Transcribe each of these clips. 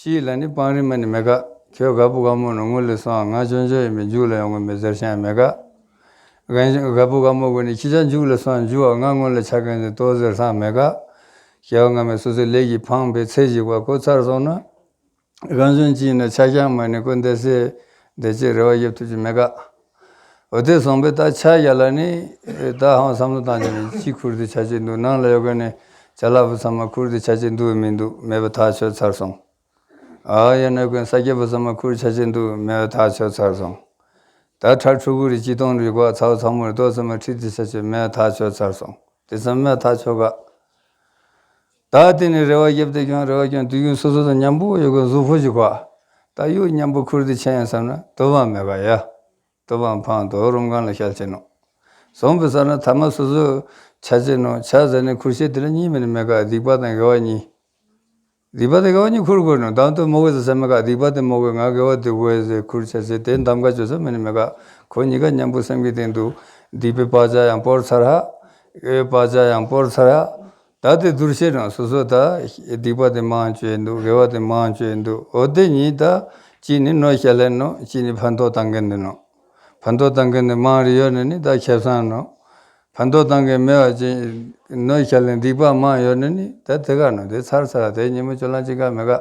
ཤིའི་ལ་ནི་སྤང་རི་མ་ནི་མེ་དགའ། ཁྱོད་དགའ་བུ་དགའ་མོ་ནི་ངུ་ལི་སོགས་ང་ཅོ་ཅོ་ཡིན་པས་མཇུག་ལ་ཡང་ངུ་མི་ཟེར་ཞིང་མེ་དགའ། དགའ་བུ་དགའ་མོ་གི་ནི་ཁྱི་ཆ་མཇུག་ལ་སོགས་མཇུག་བ་ང་ངུ་ལ་ཆ་གན་ཟིན་ཏོ་ཟེར་སང་མེ་དགའ། ཞེས་པ་སྔ་མས་སོ་སོའི་ལས་ཀྱིས་འཕངས་པའི་ཚེ་གཞིག་པ་ཁོ་ཚར་སོང་ན། རང་བྱོན་གྱིས་ནི་ཕྱག་བྱང་མོ་ནི་ཀུན་དའི་སྲས། འདས་རྗེས་རེ་བ་དབྱིབས་ཐུགས་ཀྱི་མེད་དགག། འོད་ལྡན་བཟང་པོའི་རྟགས་ཕྱག་རྒྱ་ལ་ནི། རྟགས་ཧང་བསམ་བློ་བཏང་བྱས་ནས་ཅི་ཁུར་དེ་བྱ་བྱེད་འདུག་ནང་ལ་ཡོད་དགོས་ནས་བྱ་གླ་པོ་ཚང་མ་ཁུར་དེ་བྱ་བྱེད་འདུག་བས་མི་འདུག་མེད་པ་ཐག་ཆོད་ཚར་སོང། ཨཱ་ཡ་གནོད་ཀུན་ས་སྐྱེས་པོ་ཚང་མ་ཁུར་བྱ་བྱེད་འདུག་མེད་པ་ཐག་ཆོད་ཚར་སོང། ད་ཁྲར་ཕྲུ་གུ་རེ་སྐྱིད་སྟོང་རེ་གོ་ཚའོ་ཚ་མོ་རེ་ལྟོ་ཚང་མ་ཁྲིད་དེ་བྱ་བྱེད་མེད་པ་ཐག་ཆོད་ཚར་སོང་དེ་ཚང་མས་ཐག་ཆོད་དགག། ད་དེ་ནས་རེ་བ་བརྒྱབ་སྟེ་ཀྱང་རེ་བ་ཀྱང་དུས་རྒྱུན་སོ་སོ་དང་མཉམ་པོ་ཡོད་དགོས་གཟུགས་ཕོ་གཞི་ཁོག་ཨ་ད་གཡུག་མཉམ་པོ་ཁུར་དེ་ཆེ་ཡང་བསམ་ན་དུ་བའང་མེད་ག་ཡ། དུ་བའང་འཕངས་དོ་རུམ་གང་ལ་ཤར་བྱེད་ནོ། བཟང་པོ་བསགས་ན་ཐ་མ་སོ་སོ་བྱ་བྱེད་ནོ་བྱ་བཟའ་ནས་ཁུར་བྱེད་དེ་ལ་གཉིས་མེད་ནི་མེད་ག་སྡིག་པ་དང་དགེ་བ་གཉིས། སྡིག་པ་དང་དགེ་བ་གཉིས་ཁུར་དགོས་ནོ་དང་དུ་མོ་བས་ཟ་སེམས་མེད་ག་སྡིག་པ་དེ་མོ་བས་ང་དགེ་བ་དུ་བས་ཟས་ཁུར་བྱ་བྱེད་དེ་འདམ་ག་བྱོ་ས་མེད་ནི་མེད་ག་ཁོ་གཉིས་ཀ་མཉམ་པོ་སེམས་ཀྱི་སྟེང་དུ་སྡིག་པའི་བག་ཆགས་ཡང་པོར་ཚར་ཧ། དགེ་བའི་བག་ཆགས་ཡང་པོར་ཚར་ཧ། ད་དེ་བསྡུར་བྱས་དྲང་སོ་སོ་ད། སྡིག་པ་དེ་མང་བྱོས་འདུག་དགེ་བ་དེ་མང་བྱོས་འདུག་འོ་དེ་གཉིས་ད། གཅིག་ནི་ནོ་ཤ་ལེན་ནོ་གཅིག་ནི་ཕར་མདོག་བཏང་གིན་འདུག་ནོ། ཕར་མདོག་བཏང་གིན་འདུག་མང་རེ་ཡོད་ནི་ནི་ད་ཁྱབ་སངས་ནོ། ཕར་མདོག་བཏང་གིན་མེད་བ་ཅན། ནོ་ཤ་ལེན་སྡིག་པ་མང་ཡོད་ནི་ནི་ད་དེ་ག་ནོ་དེ་ཚར་ཚར་དེ་ཉིན་མོ་ཁྱོད་ལ་ཅི་དགའ་མི་དགའ།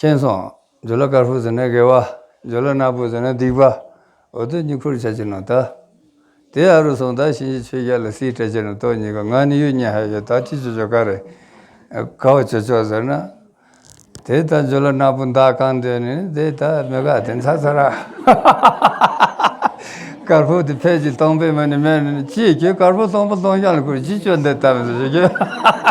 མཁྱེན་སོང། འཇོ་ལ་དཀར་པོ་ཟེར་ན་དགེ་བ། འཇོ་ལ་ནག་པོ་ཟེར་ན་སྡིག་པ། འོ་དོད་གཉིས་འཁོར་བྱ་ཅི་ནོ་ད། དེ་ཨ་རུ་སོང་ད་གཤིན་རྗེ་ཆོས་རྒྱལ་ལ་སྲིད་བཀྲ་ཅི་ནོ་ཏོ་གཉིས་ཀ་ང་ནི་གཡུ་སྙན་ཧ་ཡོད་ད་ཅི་བྱོ་བྱོ་ག་རེ། ཁ་བ་བྱོ་བྱོ་ཟེར་ན། དེ་ད་འཇོ་ལ་ནག་པོ་མདའ་གང་འདོན་ནི་དེ་ད་མི་ག་དེ་འཚ་ཚ་ར། དཀར་པོ་དེ་ཕལ་གྱི་སྟོང་པའི་མི་ནི་མེད་ནི་ཅི་ཁྱོད་དཀར་པོ་སྟོང་པ་སྟོང་རྐྱང་ལ་ཁུར་ཅི་བྱོ་འདི་ད་མི་ཟེར་བྱོ་ཁྱོད།